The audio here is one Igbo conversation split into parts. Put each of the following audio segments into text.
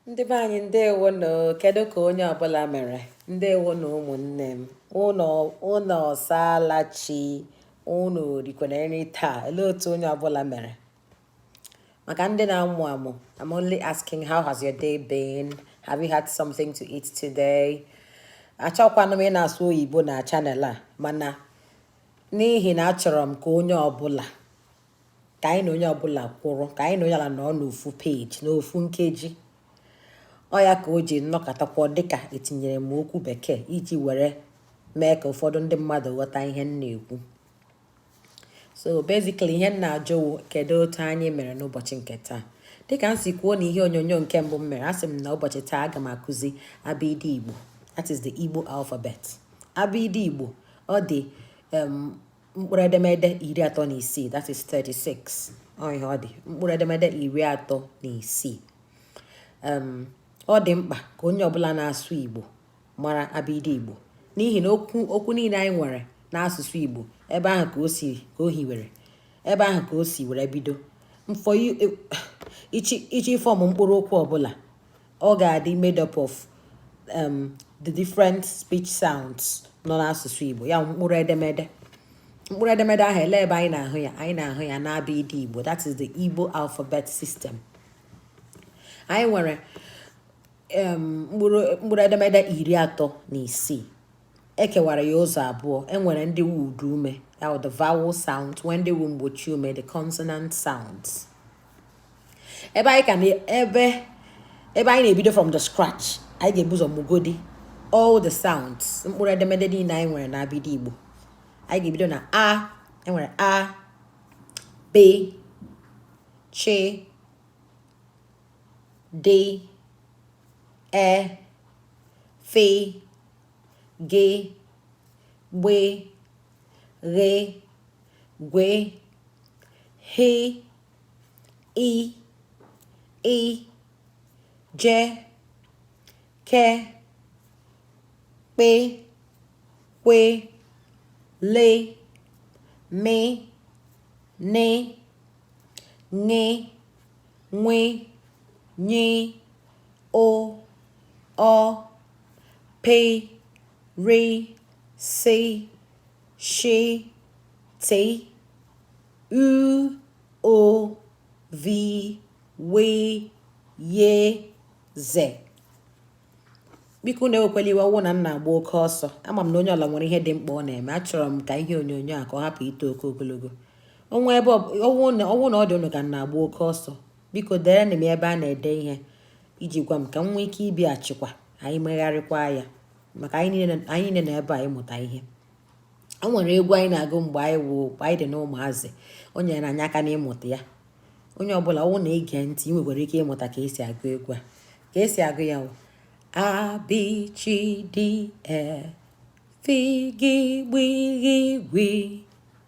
ndị be anyị ndewo nụ kedu ka onye ọbụla mere ndewo nụ ụmụnne m unu ọsaala chi unu rikwere nri taa olee otu onye ọbụla mere maka ndị na-amụ amụ I'm only asking how has your day been have you had something to eat today achọkwanụ m ịna-asụ oyibo na channel a mana n'ihi na achọrọ m ka onye ọbụla ka anyị na onye ọbụla kwụrụ ka anyị na onye ọbụla nọ n'ofu page n'ofu nkeji ọ ya ka o ji nọkatakwa ọ dịka etinyere m okwu bekee iji were mee ka ụfọdụ ndị mmadụ ghọta ihe m na-ekwu so basically ihe m na-ajụ wụ kedu otu anyị mere n'ụbọchị nke taa dịka m si kwuo na ihe onyonyo nke mbụ m mere asị m na ụbọchị taa aga m akụzi abịdị igbo that is the igbo alphabet abịdị igbo ọ dị um, mkpụrụ edemede iri atọ na isii that is 36 ọ ihe ọ dị mkpụrụ edemede iri atọ na isii ọ dị mkpa ka onye ọbụla na-asụ Igbo mara abịdị Igbo n'ihi na okwu okwu niile anyị nwere n'asụsụ Igbo ebe ahụ ka o si ka o hiwere ebe ahụ ka o si were bido ịfọ ị chọọ ị chọọ ịform mkpụrụ okwu ọbụla ọ ga-adị made up of um, the different speech sounds nọ n'asụsụ Igbo ya mkpụrụ edemede mkpụrụ edemede ahụ elee ebe anyị na-ahụ ya anyị na-ahụ ya n'abịdị Igbo that is the Igbo alphabet system anyị nwere um, mkpụrụ edemede iri atọ na isii ekewara ya ụzọ abụọ enwere ndị wu ụdaume ya the vowel sounds enwee ndị wu mgbochi ume the consonant sounds ebe anyị ka na ebe ebe anyị na-ebido from the scratch anyị ga-ebu ụzọ mụgodi all the sounds mkpụrụ edemede niile anyị nwere na abịdị Igbo anyị ga-ebido na a enwere a b ch d e f g gb ghe gwe he i ị je ke kpe kwe le me ne ṅe nwe nye o ọ pe re, se, she, te, u, ụ, vi, we, ye, ze. bikonụ ewekwala iwe ọwụ na m na-agba oke ọsọ ama m na onye ọbụla nwere ihe dị mkpa ọ na-eme achọrọ m ka ihe onyonyo a ka ọ hapụ ito oke ogologo ọnwa ebe ọwụ na ọ dị ụnụ ka m na-agba oke ọsọ biko deerenụ m ebe a na-ede ihe iji gwa m ka m nwee ike ịbịachikwa anyị megharịkwa ya maka anyị niile nọ ebe a ịmụta ihe o nwere egwu anyị na-agụ mgbe anyị wụ mgbe anyị dị n'ụmụazị o nyere anyị aka n'ịmụta ya onye ọbụla ọwụ na i gee ntị i nwekwara ike ịmụta ka esi agụ egwu a ka esi agụ ya wụ a bi chi di e fi gi gbi ghi gwi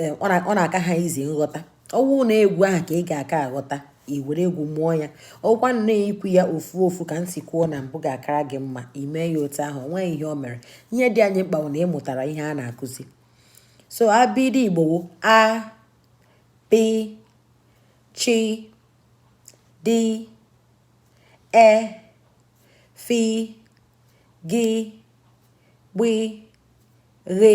eh, ọ na-aka ha easy nghọta ọwụ na egwu ahụ ka ị ga-aka aghọta i were egwu mụọ ya ọwụkwanụ na ikwu ya ofu ofu ka m si kwuo na mbụ ga-akara gị mma i mee ya otu ahụ onweghị ihe o mere ihe dị anyị mkpa wụ na ịmụtara ihe a na-akụzi so abịdị Igbo wụ a bi chi di e fi gi gbi ghe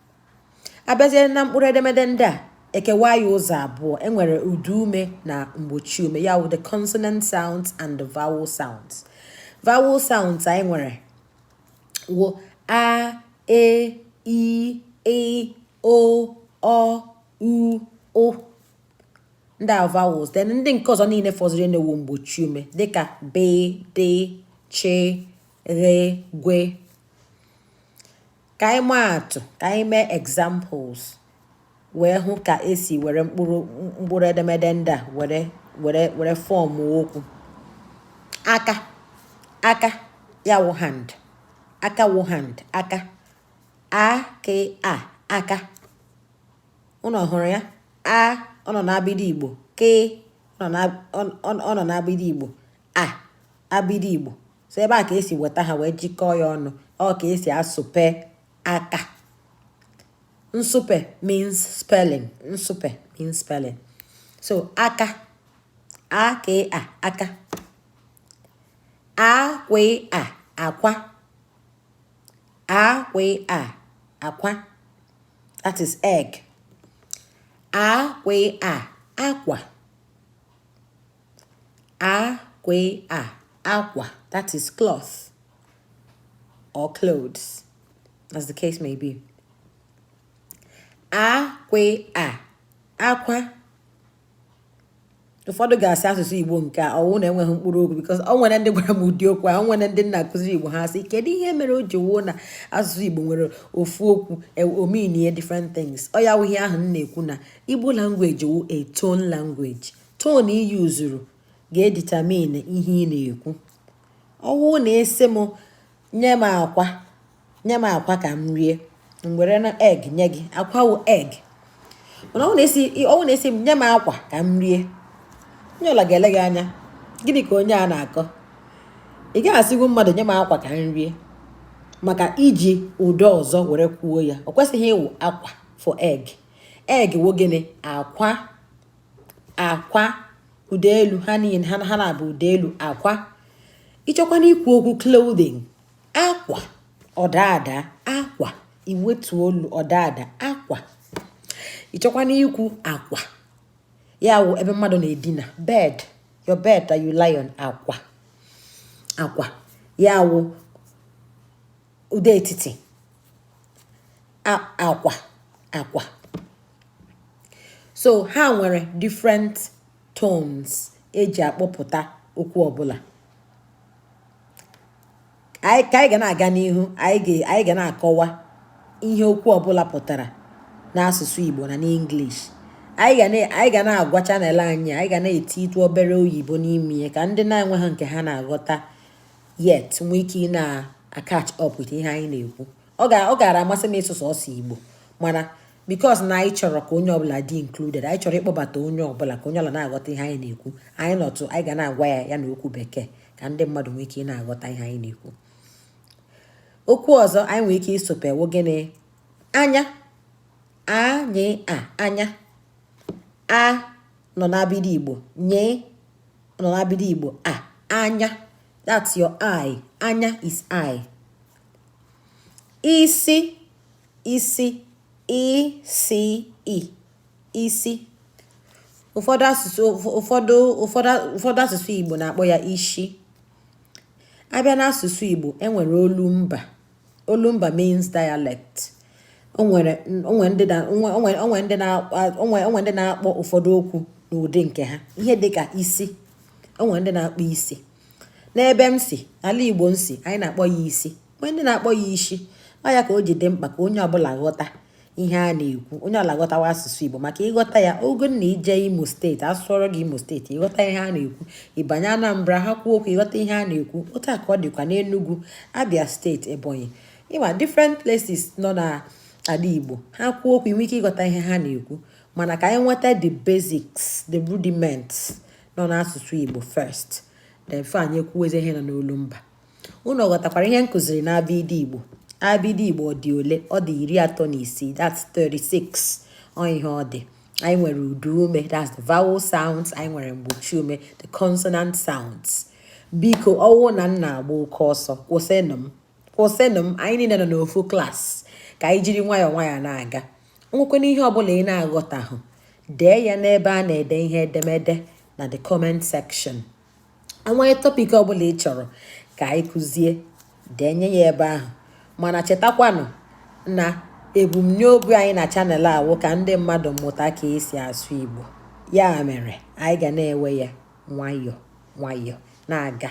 abịazie na mkpụrụ edemede ndị a ekewa ya ụzọ abụọ enwere ụda ume na mgbochi ume ya wụ the consonant sounds and the vowel sounds vowel sounds anyị nwere wụ a e i ị o ọ u ụ ndị a vowels then ndị nke ọzọ niile fọzirinụ wụ mgbochi ume dịka b d ch re gwe Ka anyị maa atụ, ka anyị mee examples wee hụ ka esi were mkpụrụ mkpụrụ edemede ndị a were were were form okwu. Aka aka ya wụ hand aka wụ hand aka a k a aka ụnụ hụrụ ya a ọ nọ n'abịdị Igbo k ọ nọ n'abịdị Igbo a abịdị Igbo so ebe a ka esi weta ha wee jikọọ ya ọnụ ọ ka esi asụpe aka nsụpe means spelling nsụpe means spelling so aka a k a aka a kwe a akwa a kwe a akwa that is egg a kwe a akwa a kwe a akwa that is cloth or clothes as the case may be a kwe a akwa ụfọdụ ga-asị asụsụ igbo nke a ọwụ na enweghị mkpụrụ okwu because ọ nwere ndị gwara m ụdị okwu a nwere ndị m na-akụzi igbo ha sị kedu ihe mere o ji wuo na asụsụ igbo nwere ofu okwu o meanie different things ọ ya wụ ihe ahụ m na-ekwu na igbo language wụ a tone language Tone i useuru ga-edetermine ihe ị na-ekwu. Ọ bụrụ na ị sị m nye m akwa nye m akwa ka m rie m were na egg nye gị akwa wụ egg mana ọ na ị sị ọ na ị sị m nye m akwa ka m rie onye ọla ga-ele gị anya gịnị ka onye a na-akọ ị gaghị asịgwu mmadụ nye m akwa ka m rie maka i ji ụda ọzọ were kwuo ya ọ kwesịghị ịwụ akwa for egg egg wụ gịnị akwa akwa ụda elu ha niile ha ha na-abụ ụda elu akwa ị chọọkwanụ ikwu okwu clothing akwa ọ daa ada akwa i wetuo olu ọ daa ada akwa ị chọọkwanụ ikwu akwa ya wụ ebe mmadụ na-edina bed your bed that you lie on akwa akwa ya wụ ụda etiti akwa akwa so ha nwere different tones e ji akpọpụta okwu ọbụla anyị ka anyị ga na-aga n'ihu anyị ga na-akọwa ihe okwu ọbụla pụtara n'asụsụ Igbo na n'English anyị ga na-agwa channel anyị anyị ga na-etiitụ obere oyibo n'ime ya ka ndị na-enweghị nke ha na-aghọta yet nwee ike ị na-acatch up with ihe anyị na-ekwu ọ gaara amasị m ịsụ sọọsọ Igbo mana because na anyị chọrọ ka onye ọbụla dị included anyị chọrọ ịkpọbata onye ọbụla ka onye ọla na-aghọta ihe anyị na-ekwu anyị nọtụ anyị ga na-agwa ya ya na okwu bekee ka ndị mmadụ nwee ike ị na-aghọta ihe anyị na-ekwu okwu ọzọ anyị nwere ike ịsụpe wụ gịnị anya a nye a anya a nọ n'abịdị Igbo nye nọ n'abịdị Igbo a anya that's your eye anya is eye isi isi i se i isi ụfọdụ asụsụ ụfọdụ ụfọdụ ụfọdụ asụsụ Igbo na-akpọ ya ishi a bịa n'asụsụ Igbo e nwere olu mba olumba means dialect onwere ndị na-akpọ ụfọdụ okwu n'ụdị nke ha ihe dịka isi onwere ndị na-akpọ isi n'ebe m si ala igbo m si anyị na-akpọ ya isi onwere ndị na-akpọ ya ishi ọ ya ka o ji dị mkpa ka onye ọbụla ghọta ihe a na-ekwu onye ọbụla ghọtawa asụsụ Igbo maka ị ghọta ya ogo na i jee Imo steeti a sụọrọ gị Imo steeti ị ghọta ihe a na-ekwu ị banye Anambra ha kwuo okwu ị ghọta ihe a na-ekwu otu a ka ọ dịkwa n'Enugu Abia steeti Ebonyi ị ma different places nọ n'ala Igbo ha kwuo okwu i nwee ike ịghọta ihe ha na-ekwu mana ka anyị nweta the basics the rudiments nọ n'asụsụ Igbo first then before anyị ekwuwezi ihe nọ n'olu mba unu ghọtakwara ihe m kụziri na abịdị igbo abịdị igbo ọ dị ole ọ dị iri atọ na isii that's 36 ọ ihe ọ dị anyị nwere ụda ume that's the vowel sounds anyị nwere mgbochi ume the consonant sounds biko ọwụ na m na-agba oke ọsọ kwụsịnụ m kwụsịnụ m anyị niile nọ n'ofu klaasị ka anyị jiri nwayọọ nwayọọ na-aga o nwekwanụ ihe ọbụla ị na-aghọtahụ dee ya n'ebe a na-ede ihe edemede na the comment section enwee topic ọbụla ị chọrọ ka anyị kụzie denye ya ebe ahụ mana chetakwanụ na ebumnobi anyị na channel a wụ ka ndị mmadụ mụta ka e si asụ Igbo ya mere anyị ga na-ewe ya nwayọọ nwayọọ na-aga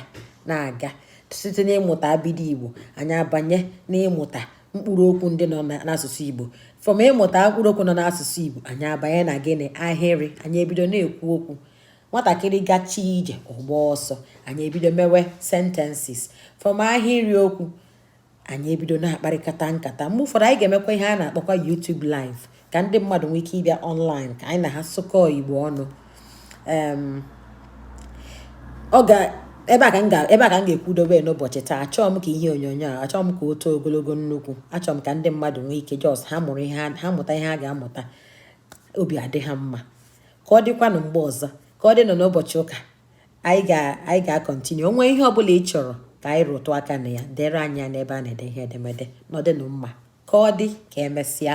na-aga site n'ịmụta abịdị Igbo anyị abanye n'ịmụta mkpụrụ okwu ndị nọ n'asụsụ Igbo from ịmụta mkpụrụ okwu nọ n'asụsụ Igbo anyị abanye na gịnị ahịrị anyị ebido na-ekwu okwu nwatakịrị gachaa ije ọ gbaa ọsọ anyị ebido mewe sentences from ahịrị okwu anyị ebido na-akparịkọta nkata mgbe ụfọdụ anyị ga-emekwa ihe a na-akpọkwa YouTube live ka ndị mmadụ nwee ike ịbịa online ka anyị na ha sụkọọ igbo ọnụ ọ ga ebe a ka m ga-ekwudobe n'ụbọchị taa achọọ m ka ihe onyonyo a achọọ m ka o too ogologo nnukwu achọọ m ka ndị mmadụ nwee ike just ha mụrụ ihe ha mụta ihe ha ga-amụta obi adị ha mma ka ọ dịkwanụ mgbe ọzọ ka ọ dịnụ n'ụbọchị ụka anyị ga-continue o nwee ihe ọ bụla ị chọrọ ka anyị rụtụ aka na ya deere anyị ya n'ebe a na-ede ihe edemede nọdụnụ mma ka ọ dị ka emesịa